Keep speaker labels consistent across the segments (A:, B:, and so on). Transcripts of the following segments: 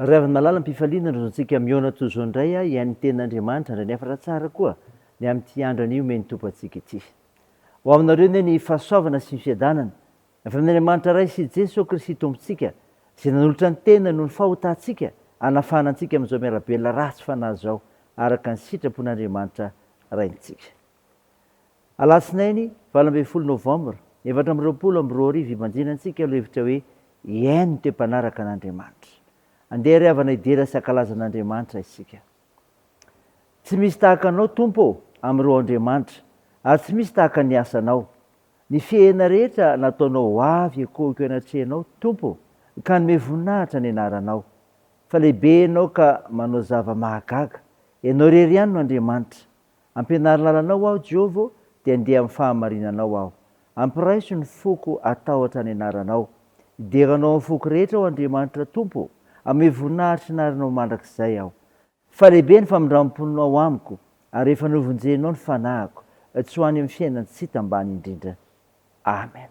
A: Ry havy malala ampifaliana ny zontsika mihaona toy izao indray a hihain'ny tenin'Andriamanitra indray nefa raha tsara koa ny amin'ity andro anio omen'ny Tompo antsika ity ho aminareo anie ny fahasoavana sy ny fiadanana avy amin'Andriamanitra Ray sy Jeso Kristy Tompontsika izay nanolotra ny teniny noho ny fahotantsika hanafahana antsika amin'izao miarabelona ratsy fanahy izao araka ny sitrapon'Andriamanitra Raintsika. Alatsinainy valo ambin'ny folo novambra efatra amby roapolo amby roa arivo ibanjina antsika lohevitra hoe Hihaino dia mpanaraka an'Andriamanitra. Andeha ary havana hidera sy hankalaza an'Andriamanitra isika. Tsy misy tahaka Anao Tompo ô! amin'ireo Andriamanitra, ary tsy misy tahaka ny asanao. Ny fihena rehetra nataonao ho avy ekoiko anatrehanao Tompo ka hanome voninahitra ny anaranao. Fa lehibe Ianao ka manao zava-mahagaga. Ianao irery ihany no Andriamanitra. Ampianaro lalanao aho Jehovah ô, dia andeha amin'ny fahamarinanao aho. Ampiraiso ny foko hatahotra ny anaranao. Hidera anao amin'ny foko rehetra aho Andriamanitra Tompo ô, hanome voninahitry ny arinao mandrakizay aho. Fa lehibe ny famindram-ponao amiko, ary efa novonjenao ny fanahiko, tsy ho any amin'ny fiainan-tsita ambany indrindra. Amen.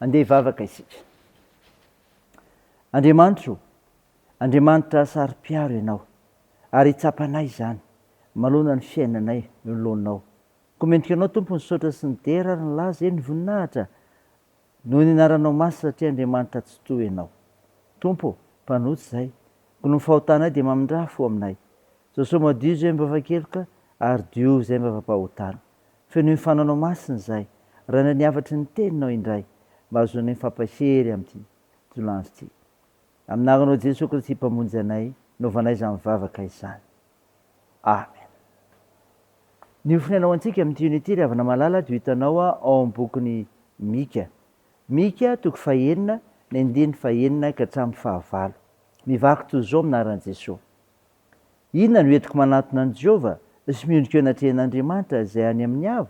A: Andeha hivavaka isika. Andriamanitro o, Andriamanitra saro-piaro Ianao, ary tsapanay izany, manoloana ny fiainanay nolonao. Komentika Anao Tompo ny saotra sy ny dera ary ny laza, eny ny voninahitra, noho ny Anaranao Masy satria Andriamanitra Tsitoha Ianao. Tompo o, mpanohitra izay, gony ny fahotanay dia mamindrà fo aminay. Jesoa madio izay mivavakeloka ary diovy izay mivavapahotana. Fenoy ny fananao masina izay. Rainay ny hafatry ny teninao indray mba hahazoanay mifampahery amin'ity tolandro ity. Amin'ny anaranao Jesoa Kristy Mpamonjy anay no hanaovanay izany vavaka izany. Amen. Ny ho fiainana ho antsika amin'ity unity ry havana malala dia ho hitanao ao amin'ny bokin'i Mika. Mika toko fahenina ny andininy fahenina ka hatramin'ny fahavalo. Mivaky toy izao amin'ny anaran'i Jesoa. Inona no entiko manatona an'i Jehovah sy miondrika eo anatrehan'Andriamanitra izay any amin'ny avo?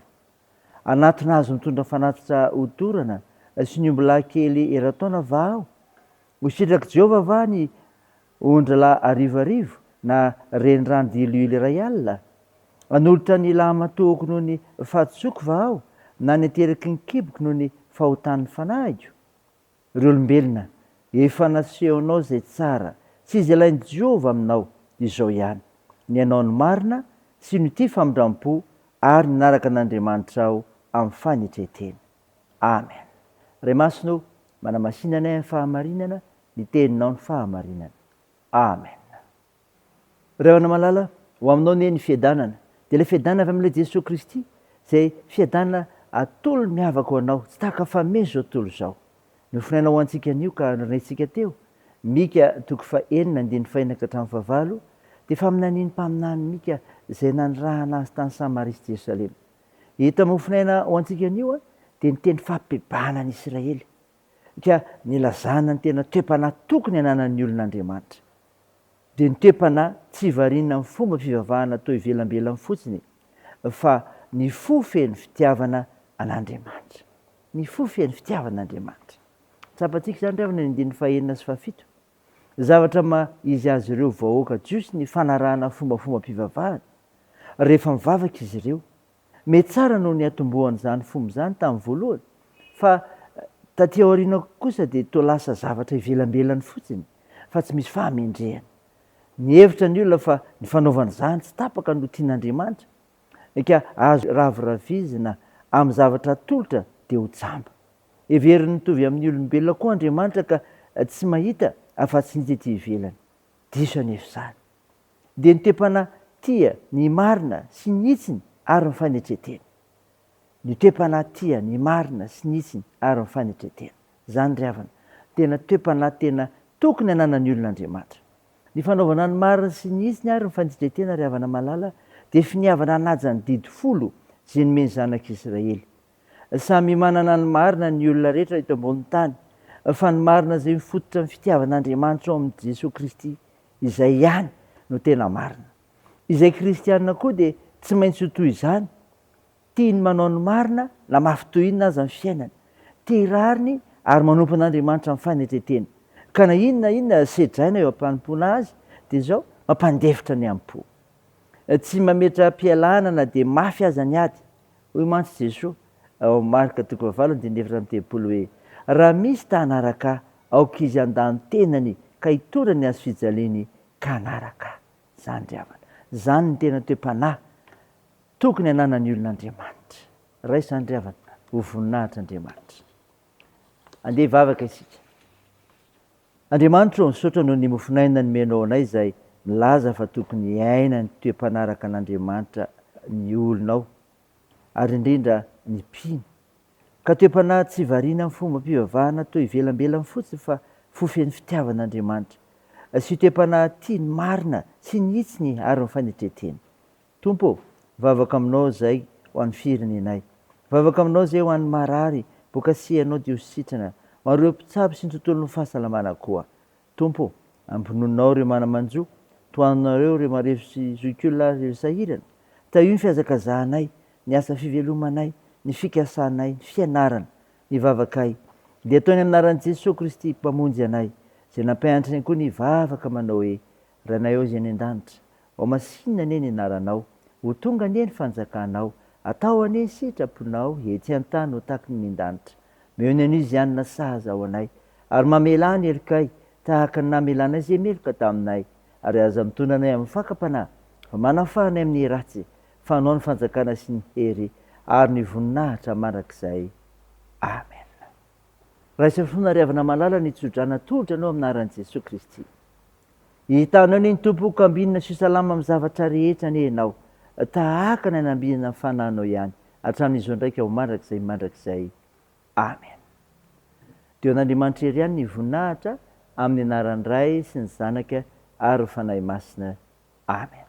A: Hanatona azy mitondra fanatitra hodorana sy ny ombilahy kely eran-taona va aho? Ho sitrak'i Jehovah va ny ondralahy arivoarivo na renirano diloilo iray alina? Hanolotra ny lahimatoako noho ny fahadisoako va aho, na ny ateriky ny kiboko noho ny fahotan'ny fanahiko? Ry olombelona, efa nasehonao izay tsara sy izay ilain'i Jehovah aminao izao ihany, ny hanao ny marina sy ny tia famindrampo ary ny hanaraka an'Andriamanitra ao amin'ny fanetren-tena. Amen. Ray Masina ô, manamasina anay amin'ny fahamarinana, ny Teninao ny fahamarinana. Amen. Ry havana malala, ho aminao anie ny fiadanana, dia ilay fiadanana avy amin'ilay Jesoa Kristy, izay fiadanana atolony miavaka ho anao, tsy tahaka famehy izao tontolo izao. Nofinaina ho antsika anio ka norenehintsika teo, Mika toko fahenina andininy fahina ka hatramin'ny fahavalo, dia faminanian'ny mpaminany Mika izay nanirahana azy tany Samaria sy Jerosalema. Ito amin'ny mofinaina ho antsika anio an, dia ny teny fampibebahana an'i Isiraely, ka nilazana ny tena toe-panahy tokony hananan'ny olona Andriamanitra. dia nitepana tsy variana amin'ny fomba fivavahana toa ivelambelany fotsiny fa ny fo feno fitiavana an'Andriamanitra. Ny fo feno fitiavana an'Andriamanitra. Tsapantsika izany ry havana ny andininy fahenina sy fahafito. Zavatra maha izy azy ireo vahoaka jiosy ny fanarahana fombafombam-pivavahana rehefa mivavaka izy ireo. Mety tsara no niatombohan' izany fomba izany tamin'ny voalohany, fa taty aoriana kosa dia toa lasa zavatra ivelambelany fotsiny, fa tsy misy fahamendrehana. Nihevitra ny olona fa ny fanaovana izany tsy tapaka no tian' Andriamanitra, ka azo raviravizina amin'ny zavatra atolotra dia ho jamba. Heveriny mitovy amin'ny olombelona koa Andriamanitra ka tsy mahita afa-tsy ny tety ivelany. Diso anefa izany. dia ny toe-panahy tia ny marina sy ny hitsiny ary ny fanetren-tena. Ny toe-panahy tia ny marina sy ny hitsiny ary ny fanetren-tena. Izany ry havana, no tena toe-panahy tena tokony hananan'ny olona Andriamanitra. Ny fanaovana ny marina sy ny hitsiny ary ny fanetren-tena, ry havana malala, dia finiavana hanaja ny didy folo izay nomen'ny Zanak'Israely Samy manana ny marina ny olona rehetra eto ambonin'ny tany, fa ny marina izay mifototra amin'ny fitiavan'Andriamanitra ao amin'i Jesoa Kristy, izay ihany no tena marina. Izay kristiana koa dia tsy maintsy ho toy izany, tia ny manao ny marina na mafy toy inona aza ny fiainany, tia rariny ary manompo an'Andriamanitra amin'ny fanetretena, ka na inona na inona sedraina eo am-panompoana Azy dia izao mampandefitra ny am-po. Tsy mametra-pialana na dia mafy aza ny ady. Hoy mantsy Jesoa, ao Marka toko fahavalo andininy efatra amby telopolo hoe, Raha misy ta hanaraka Ahy, aoka izy handà ny tenany ka hitondra ny hazofijaliany ka hanaraka Ahy. Izany ry havana. Izany no tena toe-panahy tokony hananan'ny olona Andriamanitra. Raha izany ry havana, ho voninahitr' Andriamanitra. Andeha hivavaka isika. Andriamanitra ô, misaotra noho ny mofon'aina nomenao anay izay milaza fa tokony hiaina ny toe-panaraka an'Andriamanitra ny olona ao, ary indrindra ny mpino. Ka toe-panahy tsy variana amin'ny fombam-pivavahana toa ivelambelany fotsiny fa fo feno fitiavana Andriamanitra, sy toe-panahy tia ny marina sy ny hitsiny ary ny fanetren-teny. Tompo ô, vavaka aminao zay ho an'ny firenenay. Vavaka aminao zay ho an'ny marary boka sy ianao dio sitrana ho an'ireo mpitsabo sy ny tontolon'ny fahasalamana koa. Tompo ô, ampinoninao ireo mana-manjo, tohanonareo ireo marefo sy zoik'olona ary ireo sahirana. Tahio ny fihazakazahanay, ny asa fivelomanay, ny fikasanay, ny fianarana. Ny vavakay dia atao ny an'anaran'i Jesoa Kristy Mpamonjy anay, izay nampianatra ny ankoho nivavaka manao hoe, Ranay ô Zay any an-danitra, ao masinina anie ny anaranao, ho tonga anie ny fanjakanao, atao anie ny sitraponao ety an-tany ho takin' ny danitra. Meo ny Anosianina sahaza ao anay, ary mamelà ny helokay tahaka ny namelanay izay meloka taminay, ary aza mitondra anay amin'ny fakam-panahy, fa manafaha anay amin'ny ratsy, fa anao ny fanjakana sy ny hery ary ny voninahitra mandrakizay. Amen. Raiso fona ry havana malala ny tsodrana tolotra anao amin'ny anaran'i Jesoa Kristy. Hitanao anie ny Tompo hokambinina sy ho salama amin'ny zavatra rehetra anie ianao tahaka ny hanambinana ny fanahinao ihany hatramin'izao indraika ho mandrakizay mandrakizay. Amen. Dia ho an'Andriamanitra Hery ihany ny voninahitra amin'ny anaran'ny Ray sy ny Zanaka ary ny Fanahy Masina. Amen.